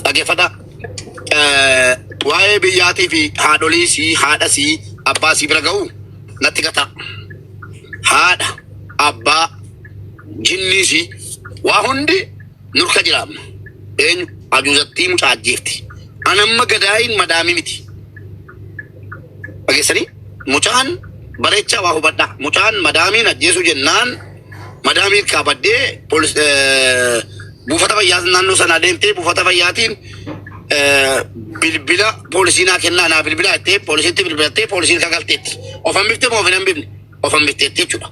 Dhaggeeffadha. Eh, Waa'ee biyyaatii fi haadholii sii, haadha sii, abbaa sii bira ga'u natti gataa. Haadha, abbaa, jinnii sii, waa hundi nurka jira amma. Eenyu? Ajuuzattii mucaa ajjeefti. An amma gadaayin madaamii miti. Dhageessanii? Mucaan bareechaa waa hubadhaa. Mucaan madaamiin ajjeesuu jennaan madaamiin qabadhee polis eh, buufata fayyaa naannoo sanaa deemtee buufata fayyaatiin eh, bilbila poolisii naa kennaa naa bilbilaa jettee poolisiitti bilbilattee poolisiin kagalteetti. Of hambifte moo of hin hambifne? Of hambifteetti jechuudha.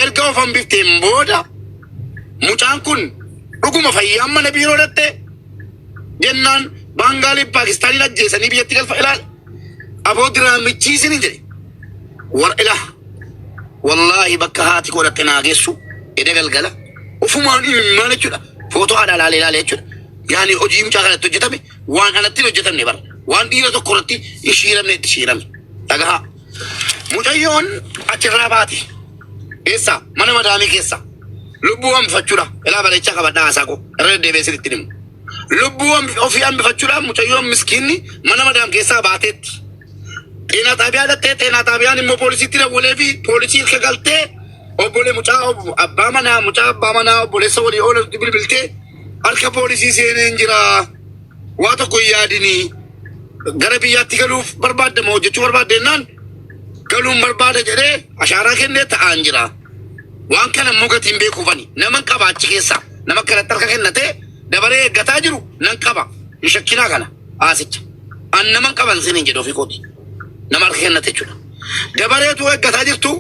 Erga of hambifteen booda mucaan kun dhuguma fayyaan mana biiroo dhatte jennaan baangaalii paakistaaniin ajjeesanii biyyatti galfa ilaala. Aboo diraamichii isinin jedhe war ilaah wallaahi bakka haati koo dhaqxe naa geessu eda galgala ufumaan imimmaan jechuudha footoo haadha ilaalee ilaalee jechuudha yaani hojii mucaa kanatti hojjetame waan anatti hin hojjetamne bara waan dhiira tokko irratti hin shiiramne itti shiirame dhagahaa mucayyoon achirraa baate eessa mana madaamii keessa lubbuu hambifachuudha ilaa bareechaa qabadhaa haasaa koo irra deddeebi'ee sirriitti himu. Lubbuu hambi- ofii hambifachuudhaan mucayyoon miskiinni mana madaam keessaa baateetti. Xeenaa xaabiyaa dhattee xeenaa xaabiyaan immoo poolisiitti dawwalee fi poolisii ilka galtee obbolee mucaa ob- abbaa manaa mucaa abbaa manaa obboleessa walii oolatti bilbiltee harka poolisii seenee hin jira waa tokko hin yaadinii gara biyyaatti galuuf barbaadda moo hojjechuu barbaadde jennaan galuun barbaada jedhee ashaaraa kennee ta'aan jira. Waan kana immoo gatiin beekuuf ani naman qaba achi keessaa nama akkanatti harka kennatee dabaree eeggataa jiru nan qaba hin shakkinaa kana haasicha an naman qaban siniin jedhe ofii kooti nama harka kennate jechuudha dabareetu eeggataa jirtu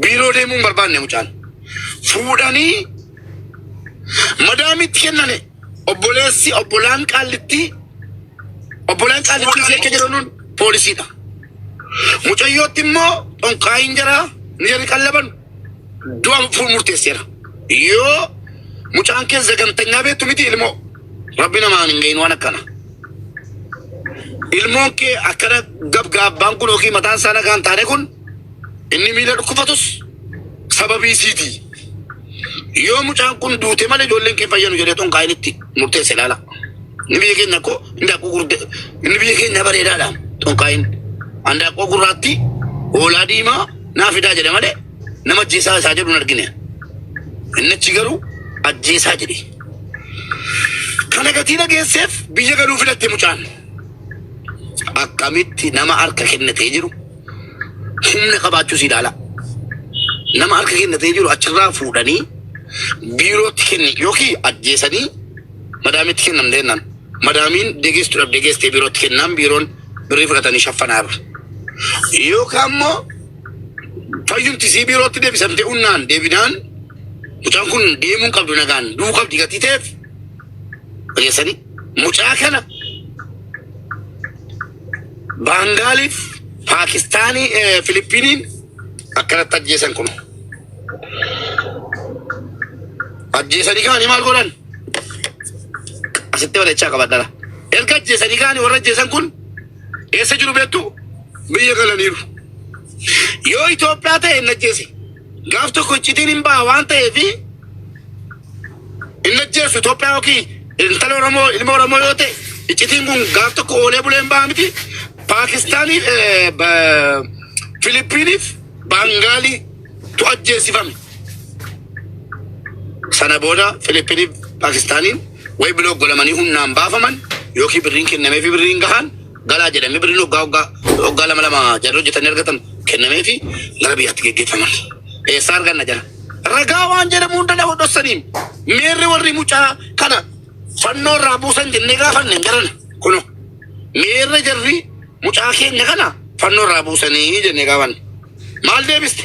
biiroo deemuu hin barbaanne mucaan fuudhanii madaamitti kennane obboleessi obbolaan qaallitti obbolaan qaallitti ishee akka jedhanuun poolisiidha. Mucayyootti immoo xonqaayiin jaraa ni jarri qallaban du'a fuul murteesseera. Yoo mucaan kee zagantanyaa beektu miti ilmoo rabbi namaan hin gahin waan akkana. Ilmoon kee akkana gabgaabbaan kun yookiin mataan isaa nagaan taane kun inni miila dhukkufatus Sababii siiti. Yoo mucaan kun duute malee ijoolleen kee fayyanu jedhee tun kaayinitti murteesse ilaala. Inni biyya keenya koo hindaaqqoo gurguddaa inni biyya keenya bareedaadha tun kaayin. Handaaqqoo gurraatti hoolaa diimaa naa fidaa jedhe malee nama ajjeesaa isaa jedhu hin argine. Inni achi garuu ajjeesaa jedhe. Kana gatii dhageesseef biyya galuu filatte mucaan. Akkamitti nama harka kennatee jiru humna qabaachuus ilaalaa. Nama harka kennatee jiru achirraa fuudhanii biirootti kenni yookiin ajjeesanii madaamitti kennamte jennaan. Madaamiin degeessu dhabdee geessee biirootti kennaan biiroon birrii fudhatanii shaffanaa irra. Yookaan immoo fayyumtisii biirootti deebisamtee unnaan deebinaan mucaan kun deemuun qabdu nagaan du'uu qabdi gatii ta'eef fageessanii mucaa kana Baangaaliif Paakistaanii eh, Filippiniin akkanatti ajjeesan kun ajjeesanii kaanii maal godhan asitti walachaa qabadhara erga ajjeesanii kaanii warra ajjeesan kun eessa jiru beektu biyya galaniiru yoo Itoophiyaa ta'e hin ajjeese gaaf tokko iccitiin hin ba'a waan ta'eefi Hin ajjeessu Itoophiyaa yookiin intala Oromoo ilma Oromoo yoo ta'e iccitiin kun gaaf tokko oolee buleen ba'a miti. Paakistaaniif eh, ba- Filiippiiniif Baangaalii tu ajjeesifame. Sana booda Filiippiiniif Paakistaaniin way biloo godhamanii humnaan baafaman yookiin birriin kennameefi birriin gahan galaa jedhamee birriin waggaa waggaa waggaa lama lama jarri hojjetanii argatan kennamee fi gara biyyaatti geggeeffaman. Eessaa arganna jara? Ragaa waan jedhamu hunda nama dhossaniin miirri warri mucaa kana fannoo irraa buusan jennee gaafanne hin jiran. Kuno miirri jarri mucaa keenya kana fannoo irraa buusanii jennee gaafanne. Maal deebiste?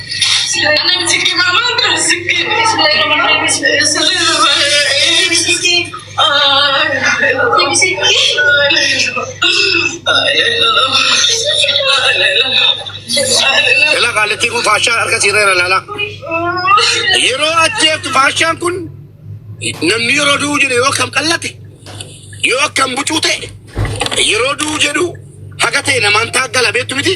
Ilaa qaalittii kun faashaa harka siirreera laala. Yeroo ajjeeftu faashaan kun namni yeroo du'u jedhe yoo akkam qallate yoo akkam bucuu ta'e yeroo du'u jedhu haga ta'e namaan taaggala beektu miti.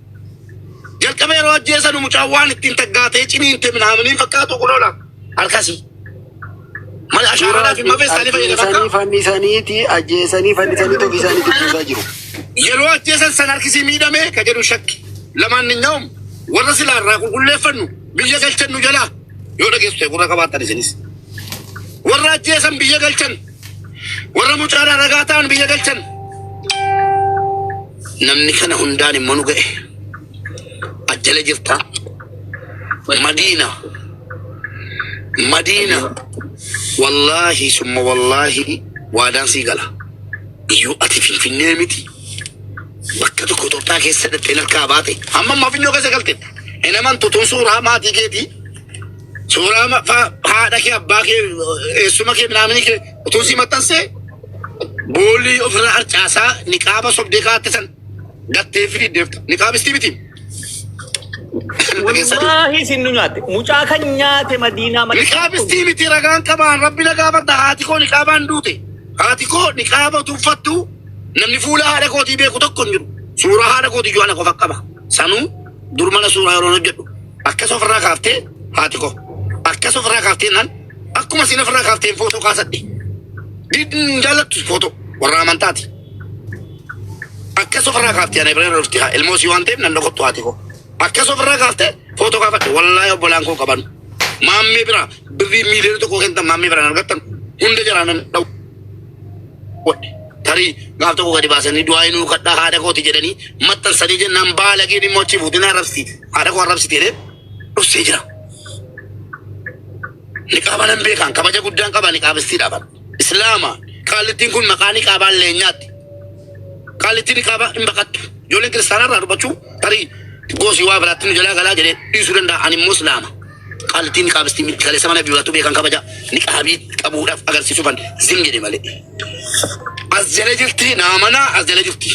Jalqaba yeroo ajjeesanu mucaan waan ittiin taggaatee ciniinte minaaminiin fakkaatu kun oola harkasii. Mali ashaaraa fi mafee isaanii fayyadama Ajjeesanii akka fannisaniiti ajjeesanii fannisanii tofi isaanii dubbisaa jiru. yeroo ajjeesan san harkisii miidhamee ka jedhu shakki. Lamaan ni nyaa'um warra silaa irraa qulqulleeffannu biyya galchannu jalaa yoo dhageessu ta'e gurra qabaattan isinis. Warra ajjeesan biyya galchan Warra mucaadhaa ragaa ta'an biyya galchan. Namni kana hundaan immoo nu ga'e. Ajjala jirtaa. Madiina. Madiina. Wallaahi summa wallaahi waadaan sii gala. Iyyuu ati finfinnee miti. Bakka tokko Itoophiyaa keessa dhattee harkaa baate. Amma ammaa finnoo keessa galte. Hin amantu tun suuraa maatii keetii. Suuraa ma- fa- haadha kee abbaa kee eessuma kee minaaminii kee utuu sii maxxansee boolii ofirra harcaasaa niqaaba sobdee kaatte san gattee fi deemta. Niqaabistii miti. Wallaahi isin nu nyaatte. Mucaa kan nyaate madiinaa madiinaa. Niqaabistii miti ragaan qabaan rabbi na gaafadha haati koo niqaabaan duute. Haati koo niqaaba utuu uffattu namni fuula haadha kootii beeku tokko hin jiru. Suuraa haadha kootii iyyuu ana qofa qaba. Sanuu dur mana suuraa yeroo hojjedhu akkas ofirraa kaaftee haati koo akkas ofirraa kaaftee naan akkuma siin ofirraa kaafteen footoo kaasadhe didin jaallattu footoo warra amantaati akkas ofirraa kaaftee ana bira dhufti haa ilmoo sii waan ta'eef nan dhokottu haati koo akkas ofirraa kaaftee footoo kaafadhe wallaahi obbolaan koo qaban maammee bira birrii miiliyoona tokko kentan maammee biraan argattan hunda jaraanan dha'u. godhe. Tarii gaaf tokko gadi baasanii du'aa inuu kadhaa haadha kooti jedhanii maxxansanii jennaan baalageen immoo achi fuutinaa rabsi haadha koo rabsi jedhee dhussee jira. Niqaaba nan beekaan kabaja guddaan qaba niqaabessiidha kan. Islaama qaallittiin kun maqaa niqaabaan leenyaatti. Qaallittiin niqaabaa hin baqattu. Ijoolleen kiristaanaa irraa dubbachuu tarii goosii waa biraatti nu jalaa galaa jedhee dhiisuu danda'a ani immoo islaama. Qaltii niqaabstii miti kaleessa mana durattu beekan kabaja niqaabii qabuudhaaf agarsiisufan zim jedhe malee. As jala jirti naa mana as jala jirti.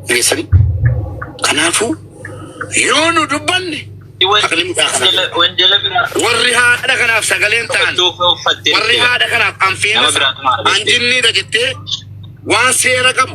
Geessanii. Kanaafuu yoo nu dubbanne haqni mucaa kana jira. Wanjala biraa Warri haadha kanaaf sagaleen ta'an iddoo kee uffattee warri haadha kanaaf anfeenas Nama biraatu maal beekte? anjinniidha jettee waan seera qabu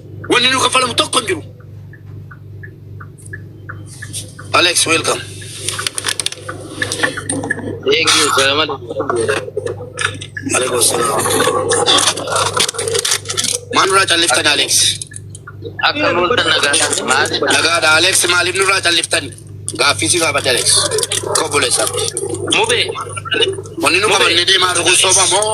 Wanni nu kaffalamu tokko hin jiru. Alex, welcome. Thank you. Salamat. Alaikum salam. Maal nurraa calliftan Alex? Akka bultan nagaa maal? Nagaadha Alex maaliif nurraa calliftan? Gaaffii si gaafadhe Alex. Kobboleessa. Mube. Wanni nu qabannee deemaa dhuguun soba moo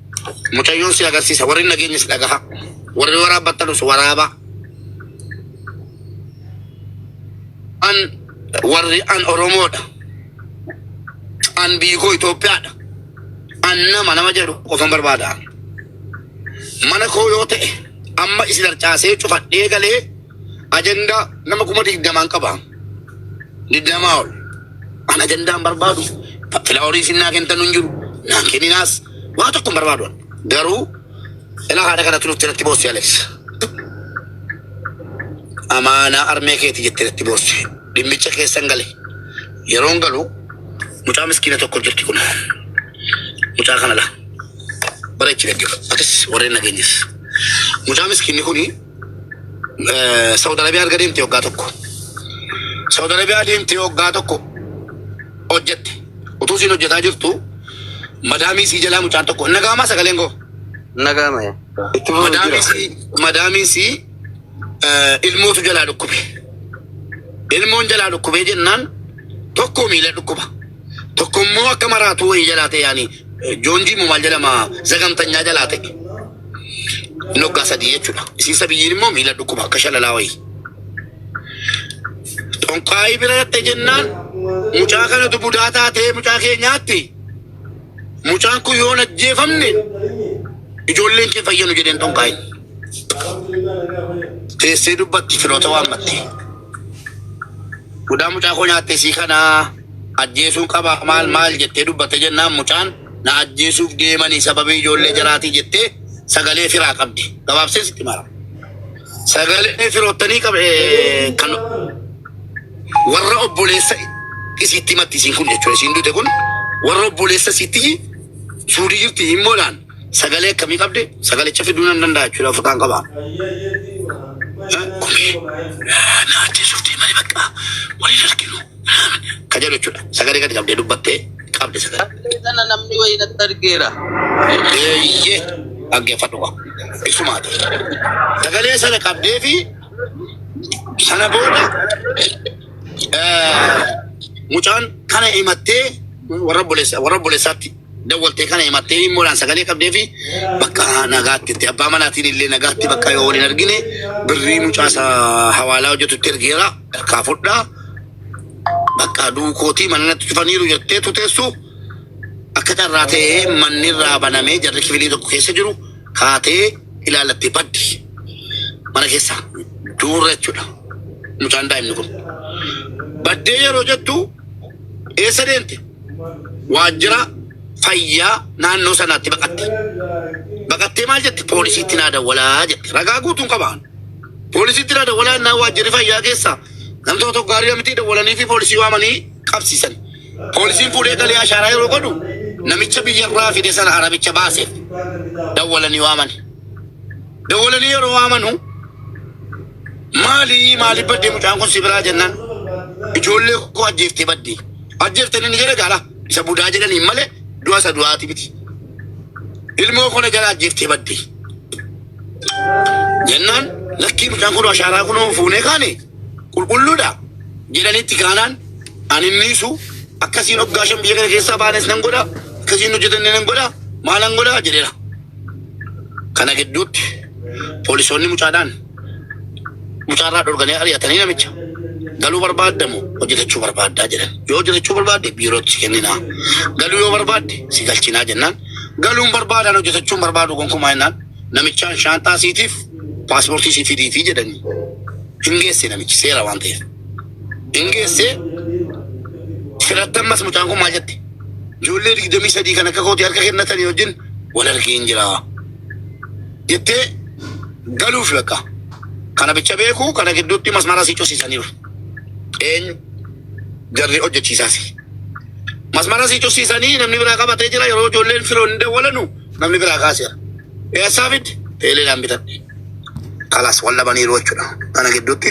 Mucayyoon si agarsiisa. Warri nageenyas dhagaha. Warri waraabbattanis waraaba. An warri an Oromoodha. An biyyi koo Itoophiyaadha. An nama nama jedhu qofan barbaada. Mana koo yoo ta'e amma isin harcaasee cufadhee galee ajandaa nama kuma digdamaan qaba. Digdamaa ol. An ajandaan barbaadu fa- filaaworii isin naa kentan hin jiru. Naan kenninaas waa tokko hin barbaadu. an. Garuu ilaa haadha kanatti dhufte natti boossi Alex. Amaanaa armee keeti jette natti boossi. Dhimmicha keessan gale. Yeroon galu mucaa miskiina tokko jirti kun. Mucaa kana laa. Bareechi dhaggeeffatu. Atis warreen nageenyas. Mucaa miskiinni kuni eh, Saudi Arabia erga deemte waggaa tokko. Saudi Arabia deemte waggaa tokko hojjette. Utuu isiin hojjetaa jirtu madaamii sii jalaa mucaan tokko hin dhaga'amaa sagaleen koo. Nagaa maya. Itti fufu Madaamii jira. sii madaamii sii eh, ilmootu jalaa dhukkube. Ilmoon jalaa dhukkubee jennaan tokko miila dhukkuba. Tokko immoo akka maraatuu wayii jalaa ta'e yaani joonjii immoo maal jedhama zagamtanyaa jalaa ta'e inni waggaa sadii jechuudha. Isiin sabiyyiin immoo miila dhukkuba akka shalalaa wayii. Xonqaayii bira dhatte jennaan mucaa kanatu budaa taatee mucaa keenyaatti mucaan kun yoo hin ajjeefamne ijoolleen kee fayyanu jedheen xonqaayin. Teessee dubbatti firoota waammatte. Budaa mucaa koo nyaatte sii kanaa. ajjeesuun qabaa maal maal jettee dubbatte jennaan mucaan na ajjeesuuf deemanii sababii ijoollee jaraatii jettee sagalee firaa qabdi gabaabsee sitti mara sagalee firoottanii qab kan warra obboleessa isiitti matti isiin kun jechuudha isiin dute kun warra obboleessa isiitti suudii jirti himmoodhaan Sagalee akkamii qabdi? Sagalicha fiduu nan danda'a jechuudha ofirraan qaba. Naatti suurtii malee bakka waliin arginu ka jedhu jechuudha. Sagalee gadi qabdee dubbattee qabdi sagalee. Sagalee kana namni wayii natti argeera. Eeyyee dhaggeeffadhu qaba. Ibsumaati. Sagalee sana qabdee fi sana booda eh, mucaan kana himattee warra obboleessa- warra obboleessaatti dawwaltee kana himattee himmuudhaan sagalee qabdee fi bakka nagaatti itti abbaa manaatiin illee nagaatti bakka yoo waliin argine birrii mucaasa hawaalaa hojjetutti ergeera harkaa fudhaa bakka duukootii mana natti cufaniiru jettee tuteessu akka carraa ta'ee manni irraa banamee jarri kifilii tokko keessa jiru kaatee ilaalattee baddi mana keessa duurra jechuudha mucaan daa'imni kun baddee yeroo jettu eessa deemte waajjira fayyaa naannoo sanaatti baqatte. Baqattee maal jette? Poolisiitti naa dawwalaa jette. Ragaa guutuun qabaan. Poolisiitti naa dawwalaa innaa waajjirri fayyaa keessa namtoota tokko gaarii mitii dawwalanii fi poolisii waamanii qabsiisan. Poolisiin fuudhee galee ashaaraa yeroo godhu namicha biyyarraa fide sana arabicha baaseef dawwalanii waaman. Dawwalanii yeroo waamanu maali maaliif baddee mucaan kun si biraa jennaan ijoollee koo ajjeeftee baddee. Ajjeeftan inni jedhe gaala isa budaa jedhaniin malee du'a isa du'aati miti. Ilmoo koo na jala ajjeeftee badde. Jennaan lakkii mucaan kun ashaaraa kun fuunee kaane qulqulluudha jedhanitti kaanaan ani miisu akkasiin hoggaa shan biyya kana keessaa baanes nan godha akkasiin hojjetanne nan godha maalan godha jedheera. Kana gidduutti poolisoonni mucaadhaan mucaarraa dhorganii ari'atanii namicha galuu barbaadda moo hojjetachuu barbaaddaa jedhan yoo hojjetachuu barbaadde biirootti si kenninaa galuu yoo barbaadde si galchinaa jennaan galuun barbaadaan hojjetachuun barbaadu gonkumaa jennaan namichaan shaanxaa siitiif paaspoortii si fidiitii jedhanii hin geesse namichi seera waan ta'eef hin geesse filattammas mucaan kun maal jette ijoollee digdamii sadii kan akka kooti harka kennatanii wajjin wal argeen jiraa. jettee galuuf lakka. Kana bicha beeku kana gidduutti masmara si cusisaniiru. Eenyu jarri hojjechiisaasi. Masmara si cusisanii namni biraa qabatee jira yeroo ijoolleen firoon hin dawwalanu namni biraa kaaseera. Eessaa fidde? Teeleedhaan bitadhe. Kalas wal dhabaniiru jechuudha. Kana gidduutti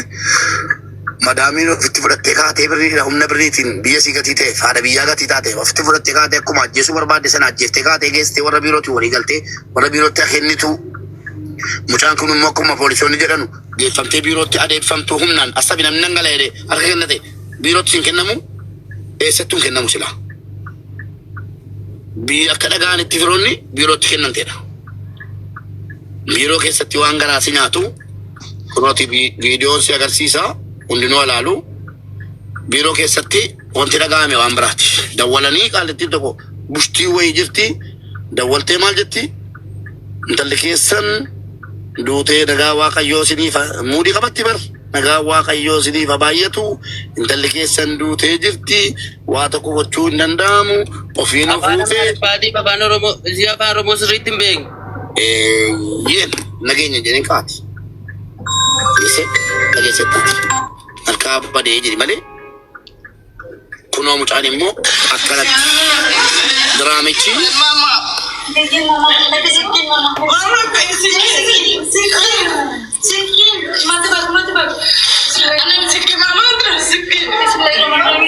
Madaamiin ofitti fudhattee kaatee birriidha humna birriitiin biyya sii gatii ta'eef haadha biyyaa gatii taateef ofitti fudhattee kaatee akkuma ajjeesuu barbaadde sana ajjeeftee kaatee geessitee warra biirootiin walii galtee warra biirootti haa kennituu mucaan kun immoo akkuma poolisoonni jedhanu geeffamtee biirootti adeemfamtuu humnaan assabi namni nan gala jedhee harka kennate biirootti hin kennamu eessattuu hin kennamu silaa. bi- akka dhaga'anitti firoonni biirootti kennamteedha. Biiroo keessatti waan garaa si nyaatu kunooti vi- viidiyoon si agarsiisa hundinuu alaalu biiroo keessatti wanti dhaga'ame waan biraati. Dawwalanii qaalittiin tokko bushtii wayii jirti dawwaltee maal jetti intalli keessan duutee nagaa waaqayyoo isiniif haa- muudii qabatti bar. Nagaan waaqayyoo isiniif ha baay'atu intalli keessan duutee jirti waa tokko gochuu hin danda'amu ofiin of Afaan uutee Amaariffaatiif afaan Oromoo isii afaan Oromoo sirriitti hin beekne. eeyyeen nageenya jedhee kaati dhiise dhageessettaati harkaa badee jedhi malee Kunoo mucaan immoo akkanatti diraamichi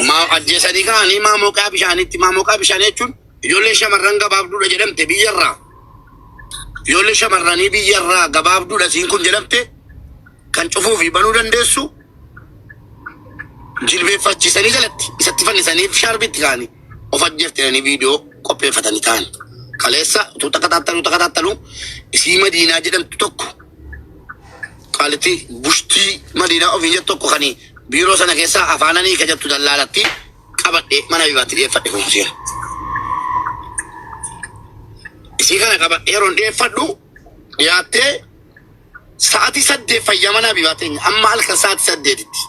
maa ajjeesanii kaanii maa moqaa bishaanitti maa moqaa bishaanii jechuun ijoollee shamarran gabaabduudha jedhamte biyyarraa ijoollee shamarranii biyyarraa gabaabduudha siin kun jedhamte kan cufuu fi banuu dandeessu jilbeeffachiisanii jalatti isatti fannisaniif shaarbii itti kaa'anii of ajjeefte jedhanii viidiyoo qopheeffatanii ta'an. Kaleessa utuu takataattalu takataattalu isii madiinaa jedhamtu tokko qaalitti bushtii madiinaa ofiin jettu tokko kan biiroo sana keessaa afaananii ka jettu dallaalatti qabadhee mana bibaatti dhiyeeffadhe kuusee. Isii kana qabadhee yeroon dhiyeeffadhu dhiyaattee Sa'ati saddeet fayyaa mana Habibaa teenya amma halkan sa'ati saddeetitti.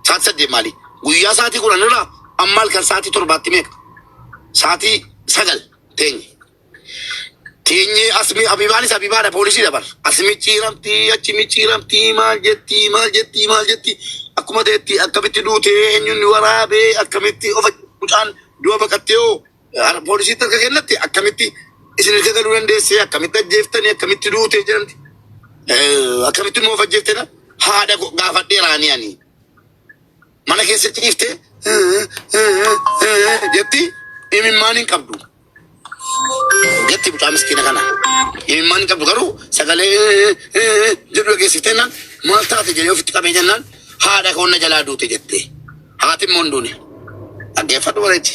Sa'ati saddeet maali? Guyyaa sa'ati kudhan irraa amma halkan sa'ati torbaatti meeqa? Sa'ati sagal teenye. Teenye asmi Habibaanis Habibaadha poolisii dabar. As micciiramti achi micciiramti maal jetti maal jetti maal jetti akkuma ta'etti akkamitti duute eenyuun waraabee akkamitti of mucaan du'a baqattee hoo Ar- Poolisiitti akka kennatti akkamitti isin ilka galuu dandeessee akkamitti ajjeeftanii akkamitti duutee jedhamti. Eh, Akkamitti immoo of ajjeeftedha. Haadha koo gaafadheeraanii ani. Mana keessatti dhiifte jetti imimmaan hin qabdu. Jetti mucaa miskiina kana. Imimmaan hin qabdu garuu sagalee jedhu dhageessiftee naan maal taate jedhee ofitti qabee jennaan haadha koo na jalaa duute jette. Haati immoo hin duune. Dhaggeeffadhu bareechi.